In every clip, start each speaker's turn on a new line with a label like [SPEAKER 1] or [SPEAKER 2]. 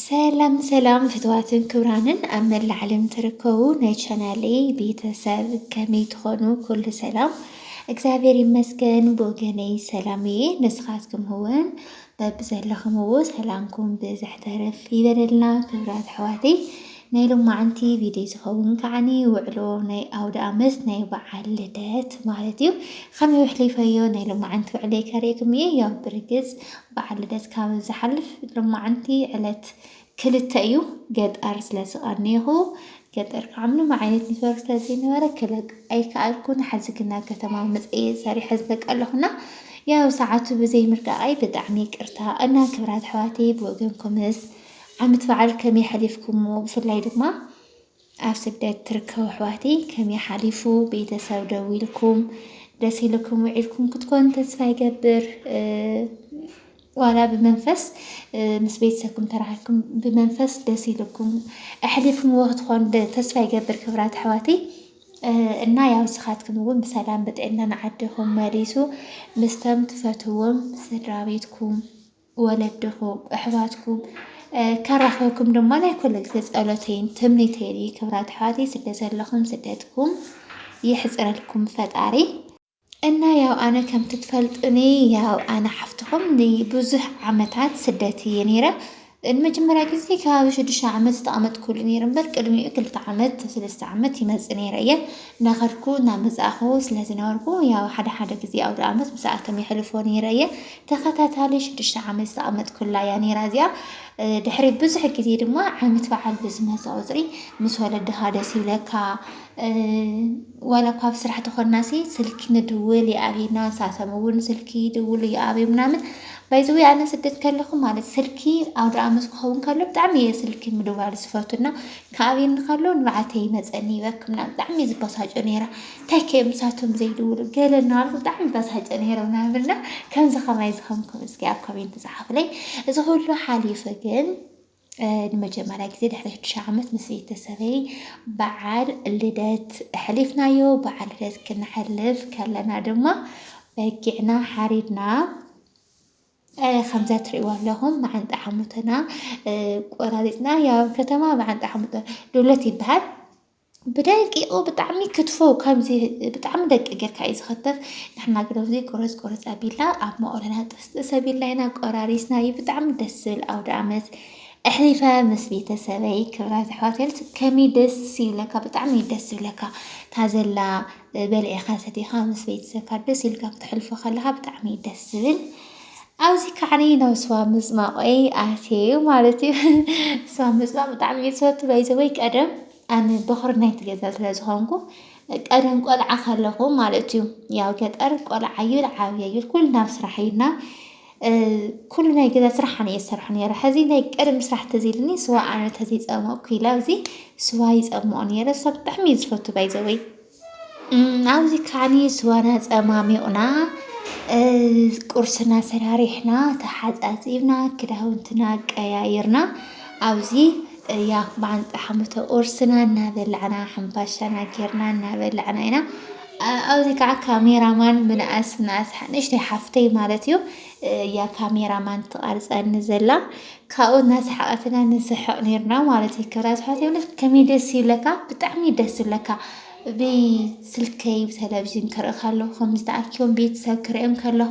[SPEAKER 1] ሰላም ሰላም ፍትዋትን ክብራንን ኣብ መላእ ዓለም ትርከቡ ናይ ቻናለይ ቤተሰብ ከመይ ትኾኑ? ኩሉ ሰላም እግዚኣብሔር ይመስገን ብወገነይ ሰላም እየ። ንስኻትኩም እውን በብዘለኹምዎ ሰላምኩም ብዝሕ ተረፍ ይበለልና ክብራት ኣሕዋተይ። ናይ ሎማዓንቲ ቪድዮ ዝኸውን ከዓኒ ውዕሎ ናይ ኣውደ ኣመት ናይ በዓል ልደት ማለት እዩ። ከመይ ውሕሊፈዮ ናይ ሎማዓንቲ ውዕለይ ከርእየኩም እየ። ያው ብርግፅ በዓል ልደት ካብ ዝሓልፍ ሎማዓንቲ ዕለት ክልተ እዩ ገጠር ስለ ዝቐነይኹ ገጠር ከዓ ምንም ዓይነት ኔትወርክ ስለ ዘይነበረ ክለቅ ኣይከኣልኩን ሐዚ ግና ከተማ መፀየ ሰሪሐ ዝለቀለኹና ያው ሰዓቱ ብዘይ ምርቃቓይ ብጣዕሚ ይቅርታ እና ክብራት ኣሕዋተይ ብወገንኩምስ ዓመት በዓል ከመይ ሓሊፍኩሞ ብፍላይ ድማ ኣብ ስደት ትርከቡ ኣሕዋተይ ከመይ ሓሊፉ ቤተሰብ ደዊልኩም ደስ ኢልኩም ውዒልኩም ክትኮኑ ተስፋ ይገብር ዋላ ብመንፈስ ምስ ቤተሰብኩም ተራኺብኩም ብመንፈስ ደስ ኢልኩም ኣሕሊፍምዎ ክትኮኑ ተስፋ ይገብር ክብራት ኣሕዋተይ እና ያው ንስኻትኩም እውን ብሰላም ብጥዕና ንዓድኹም መሊሱ ምስተም ትፈትዎም ስድራ ቤትኩም ወለድኹም ኣሕዋትኩም ከራኽበኩም ድማ ናይ ኩልልቲ ጸሎተይን ትምኒተይን እዩ። ክብራት ኣሕዋተይ ስደት ዘለኹም ስደትኩም ይሕጽረልኩም ፈጣሪ እና ያው ኣነ ከም ትፈልጡኒ ያው ኣነ ሓፍትኹም ንብዙሕ ዓመታት ስደት እየ ነይረ ንመጀመርያ ግዜ ከባቢ ሽዱሽተ ዓመት ዝተቐመጥኩሉ ነይረ እምበር ቅድሚኡ ክልተ ዓመት ሰለስተ ዓመት ይመፅእ ነይረ እየ እናኸድኩ እናመፃእኹ ስለዝነበርኩ ያው ሓደ ሓደ ግዜ ኣውደ ዓመት ምስኣቶም የሕልፎ ነይረ እየ ተኸታታሊ ሽዱሽተ ዓመት ዝተቐመጥኩላ እያ ነይራ እዚኣ። ድሕሪ ብዙሕ ግዜ ድማ ዓመት በዓል ብዝመፀ ቁፅሪ ምስ ወለድኻ ደስ ይብለካ። ዋላ እኳ ኣብ ስራሕ ተኾናሲ ስልኪ ንድውል ይኣብዩና፣ ንሳቶም እውን ስልኪ ይድውሉ ይኣብዩ ምናምን። ባይዘወይ ኣነ ስደት ከለኹ ማለት ስልኪ ኣውደ ዓመት ክኸውን ከሎ ብጣዕሚ እየ ስልኪ ምድዋል ዝፈቱና ከኣብዩኒ ከሎ ንባዓተይ ይመፀኒ ይበክ ምናምን ብጣዕሚ እየ ዝበሳጮ ነይረ። ተኬ ምሳቶም ዘይድውሉ ገለ እናበልኩ ብጣዕሚ ተበሳጨ ነይረ ምናምን እና ከምዚ ከማይ ዝኸምኩም እስኪ ኣብ ኮሜንት ጸሓፉለይ። እዚ ኩሉ ሓሊፉ ግን ንመጀመርያ ግዜ ድሕሪ ሽዱሽተ ዓመት ምስ ቤተሰበይ በዓል ልደት ሕሊፍናዮ። በዓል ልደት ክነሕልፍ ከለና ድማ በጊዕና ሓሪድና ከምዛ ትርእይዎ ኣለኹም መዓንጣ ሓሙትና ቆራሪፅና ያው ከተማ መዓንጣ ሓሙቶ ዶሎት ይበሃል ብደቂቁ ብጣዕሚ ክትፎ ከምዚ ብጣዕሚ ደቂቅ ጌርካ እዩ ዝኽተፍ። ንሕና ግን ኣብዚ ቁርፅ ቁርፅ ኣቢልና ኣብ መቑሎና ጥስጥስ ኣቢልና ኢና ቆራሪስናዩ ብጣዕሚ ደስ ዝብል ኣውደኣመት ኣሕሊፈ ምስ ቤተሰበይ ክብራት ኣሕዋተይ ከመይ ደስ ይብለካ ብጣዕሚ እዩ ደስ ዝብለካ እታ ዘላ በልዕኻ ሰቲኻ ምስ ቤተሰብካ ደስ ኢልካ ክተሕልፎ ከለኻ ብጣዕሚ እዩ ደስ ዝብል። ኣብዚ ካዕኒ ናብ ስዋ ምጽማቆይ ኣትየዩ ማለት እዩ ስዋ ምጽማቅ ብጣዕሚ እየ ዝፈቱ ባይዘወይ ቀደም ኣነ በኹሪ ናይቲ ገዛ ስለ ዝኾንኩ ቀደም ቆልዓ ከለኹ ማለት እዩ ያው ገጠር ቆልዓ እዩ ዓብየ እዩ ኩሉ ናብ ስራሕ እዩና ኩሉ ናይ ገዛ ስራሕ ኣነ እየ ዝሰርሖ ነይረ ሕዚ ናይ ቀደም ስራሕ ተዝ ኢልኒ ስዋ ኣነ ተዘይፀመቕኩ ኢለ ኣብዚ ስዋ ይፀምኦ ነይረ ስዋ ብጣዕሚ እዩ ዝፈቱ ባይዘወይ ኣብዚ ከዓኒ ስዋና ፀማሚቑና ቁርስና ሰራሪሕና ተሓፃፂብና ክዳውንትና ቀያይርና ኣብዚ ያው ብዓንፃ ሓሙተ ቁርስና እናበላዕና ሕንባሻና ጌርና እናበላዕና ኢና። ኣብዚ ከዓ ካሜራማን ምንኣስ ምንኣስ ንእሽተይ ሓፍተይ ማለት እዩ። እያ ካሜራ ማን ትቐርፀኒ ዘላ ካብኡ እናሰሓቐት ኢና ንስሕቕ ነርና ማለት እዩ። ክብራ ስሓት ይብለክ ከመይ ደስ ይብለካ ብጣዕሚ ደስ ይብለካ ብስልከይ ብተለቭዥን ክርኢ ከለኹ ከምዚ ተኣኪቦም ቤተሰብ ክርእዮም ከለኹ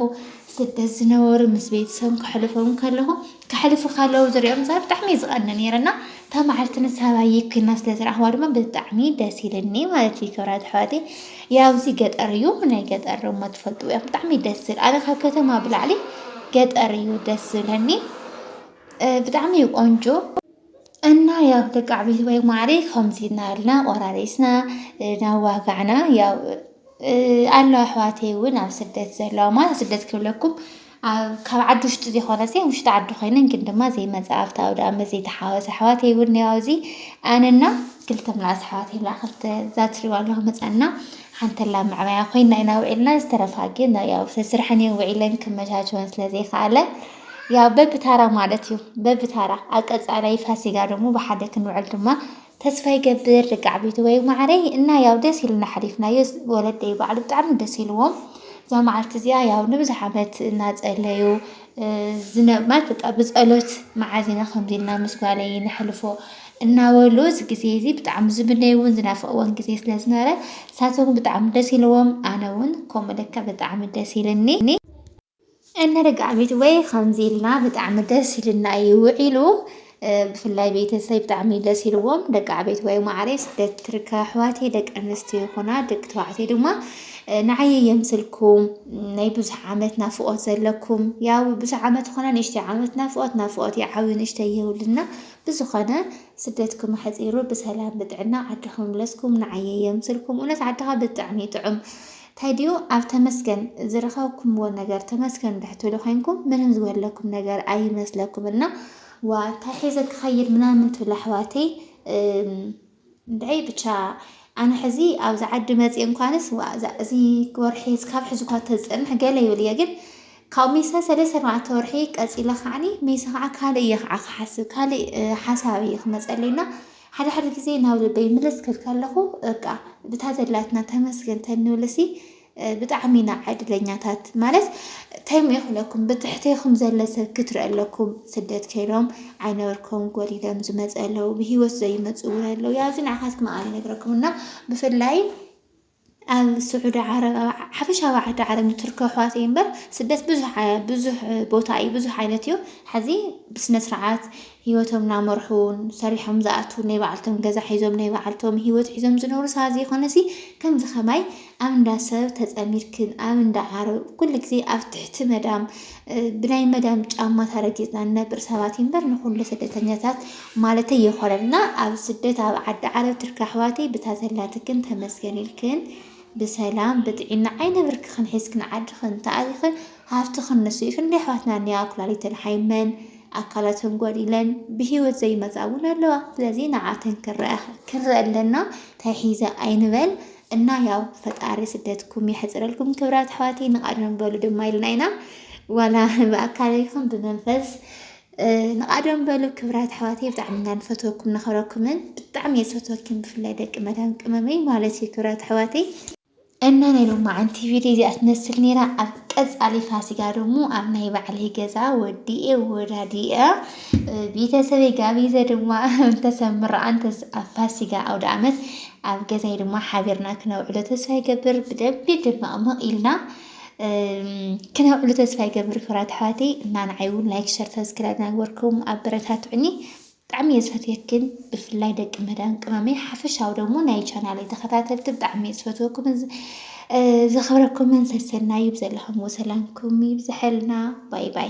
[SPEAKER 1] ስደት ዝነበሩ ምስ ቤተሰብ ከሕልፎም ከለኹ ከሕልፉ ከለዉ ዝሪኦም ሰ ብጣዕሚ ዝቀኒ ነይረ እና እታ መዓልቲ ንሳባይ ኮይና ስለ ዝረኣኽዋ ድማ ብጣዕሚ ደስ ኢልኒ ማለት እዩ ክብራት ኣሕዋተይ ያው እዚ ገጠር እዩ ናይ ገጠር ደሞ ትፈልጥዎ ኢኹም ብጣዕሚ እዩ ደስ ዝብል ኣነ ካብ ከተማ ብላዕሊ ገጠር እዩ ደስ ዝብለኒ ብጣዕሚ እዩ ቆንጆ እና ያው ደቂ ዓብይቲ ወይ ማዕሪ ከምዚ እናበልና ቆራሪስና ናዋጋዕና ያው ኣለዋ ኣሕዋተይ እውን ኣብ ስደት ዘለዋ ማለት ኣብ ስደት ክብለኩም ካብ ዓዲ ውሽጢ ዘይኮነስ ውሽጢ ዓዲ ኮይነን ግን ድማ ዘይመፃ ኣብቲ ኣውደ ኣመት ዘይተሓወሰ ኣሕዋተይ እውን እኒኦ ኣብዚ ኣነና ክልተ ምናእስ ኣሕዋተይ ብላ ክልተ ዛትሪባ ኣለዋ መፃና ሓንተላ መዕበያ ኮይና ኢና ውዒልና ዝተረፋ ግን ያው ስርሐን እየን ውዒለን ክመቻቸወን ስለዘይከኣለ ያው በብታራ ማለት እዩ በብታራ ኣብ ቀጻላይ ፋሲጋ ደሞ ብሓደ ክንውዕል ድማ ተስፋ ይገብር ደቂ ዓበይቲ ወይ ማዕረይ እና ያው ደስ ኢልና ሓሊፍናዮ ወለደይ ባዕሉ ብጣዕሚ ደስ ኢልዎም እዛ መዓልቲ እዚኣ ያው ንብዙሕ ዓመት እናፀለዩ ዝነብማት በቃ ብፀሎት መዓዝ ኢና ከምዚ ኢልና ምስ ጓለይ ነሕልፎ እናበሉ እዚ ግዜ እዚ ብጣዕሚ ዝምነይዎን ዝናፍቕዎን ግዜ ስለ ዝነበረ ንሳቶም ብጣዕሚ ደስ ኢልዎም ኣነ እውን ከምኡ ልክዕ ብጣዕሚ ደስ ኢልኒ እንርጋዕ ቤትወይ ከምዚ ኢልና ብጣዕሚ ደስ ኢልና እዩ ውዒሉ ብፍላይ ቤተሰብ ብጣዕሚ ደስ ኢልዎም ደቂ ዓበይቲ ወይ ማዕረይ ስደት ትርከ ኣሕዋተይ ደቂ ኣንስትዮ ይኹና ደቂ ተባዕትዮ ድማ ንዓይ የምስልኩም ናይ ብዙሕ ዓመት ናፍቆት ዘለኩም ያው ብዙሕ ዓመት ኾነ ንእሽተይ ዓመት ናፍቆት ናፍቆት እዩ ዓብዩ ንእሽተይ የብልና ብዝኾነ ስደትኩም ኣሕፂሩ ብሰላም ብጥዕና ዓድኹም መለስኩም ንዓይ የምስልኩም እውነት ዓድኻ ብጣዕሚ እዩ ጥዑም ተዲኡ ኣብ ተመስገን ዝረኸብኩምዎ ነገር ተመስገን ብሕትሉ ኮይንኩም ምንም ዝጎድለኩም ነገር ኣይመስለኩም እና ዋ እንታይ ሒዘ ክኸይድ ምናምን ትብሉ ኣሕዋተይ እንድዐይ ብቻ ኣነ ሕዚ ኣብዚ ዓዲ መፅእ እንኳንስ ዋ እዛ እዚ ወርሒ ስካብ ሕዚ እኳ ተዝፀንሕ ገለ ይብል እየ ግን ካብ ሚሰ ሰለስተ ኣርባዕተ ወርሒ ቀፂለ ከዓኒ ሚሰ ከዓ ካልእ እየ ከዓ ክሓስብ ካልእ ሓሳብ እየ ክመፀለይና ሓደ ሓደ ግዜ ናብ ልበይ ምልስ ክብል ከለኹ በቃ ብታ ዘላትና ተመስገን ተንብልሲ ብጣዕሚ ኢና ዕድለኛታት ማለት ተይም ይኽለኩም ብትሕተይኹም ዘለ ሰብ ክትርኢ ኣለኩም ስደት ከይዶም ዓይነበርኩም ጎዲሎም ዝመፀ ኣለዉ ብሂወት ዘይመፁ እውን ኣለዉ ያዚ ንዓኻትኩም ኣነ ነግረኩም እና ብፍላይ ኣብ ስዑዲ ዓረብ ኣብ ሓፈሻዊ ኣብ ዓዲ ዓረብ ንትርከ ኣሕዋተይ እምበር ስደት ብዙሕ ብዙሕ ቦታ እዩ ብዙሕ ዓይነት እዩ ሐዚ ብስነ ስርዓት ሂወቶም ናመርሑን ሰሪሖም ዝኣትዉን ናይ ባዕልቶም ገዛ ሒዞም ናይ ባዕልቶም ሂወት ሒዞም ዝነብሩ ሰባት ዘይኮነሲ ከምዚ ከማይ ኣብ እንዳ ሰብ ተፀሚድክን ኣብ እንዳ ዓረብ ኩሉ ግዜ ኣብ ትሕቲ መዳም ብናይ መዳም ጫማ ተረጊፅና ንነብር ሰባት እምበር ንኹሉ ስደተኛታት ማለተይ የኾነን እና ኣብ ስደት ኣብ ዓዲ ዓረብ ትርክ ኣሕዋተይ ብታ ዘላትክን ተመስገን ኢልክን ብሰላም ብጥዒና ዓይነብርክኽን ሒዝክን ዓድኽን ተኣቲኽን ሃፍትኽን ንሱ እዩ ክንደይ ኣሕዋትና እኒኣ ኩላሊተን ሓይመን ኣካላተን ጎዲለን ብሂወት ዘይመፃ እውን ኣለዋ ስለዚ ንዓተን ክንረኣ ክንረኣ ኣለና ተሒዘ ኣይንበል እና ያው ፈጣሪ ስደትኩም የሕፅረልኩም ክብራት ኣሕዋተይ ንቃደም በሉ ድማ ኢልና ኢና ዋላ ብኣካል ይኹን ብመንፈስ ንቃደም በሉ ክብራት ኣሕዋተይ ብጣዕሚ ኢና ንፈትወኩም ንኸረኩምን ብጣዕሚ እየ ዝፈትወኪን ብፍላይ ደቂ መዳም ቅመመይ ማለት እዩ ክብራት ኣሕዋተይ እና ናይ ሎማዓንቲ ቪድዮ እዚኣ ትመስል ነይራ ኣብ ቀፃሊ ፋሲጋ ደሞ ኣብ ናይ ባዕለይ ገዛ ወዲኤ ወዳዲኤ ቤተሰበይ ጋቢዘ ድማ እንተሰምራኣን ኣብ ፋሲጋ ኣውደ ዓመት ኣብ ገዛይ ድማ ሓቢርና ክነውዕሎ ተስፋ ይገብር ብደንቢ ድመቕመቕ ኢልና ክነውዕሉ ተስፋ ይገብር ክብራት ኣሕዋተይ እና ንዓይ እውን ላይክ ሸር ሰብስክራይብ ናግበርኩም ኣበረታትዑኒ ብጣዕሚ እየ ዝፈትየክን ብፍላይ ደቂ መዳን ቅመመይ ሓፈሻዊ ደግሞ ናይ ቻናለይ ተኸታተልቲ ብጣዕሚ እየ ዝፈትወኩም ዘኽብረኩምን ሰሰናዩ ብዘለኹምዎ ሰላምኩም ይብዝሐልና ባይ ባይ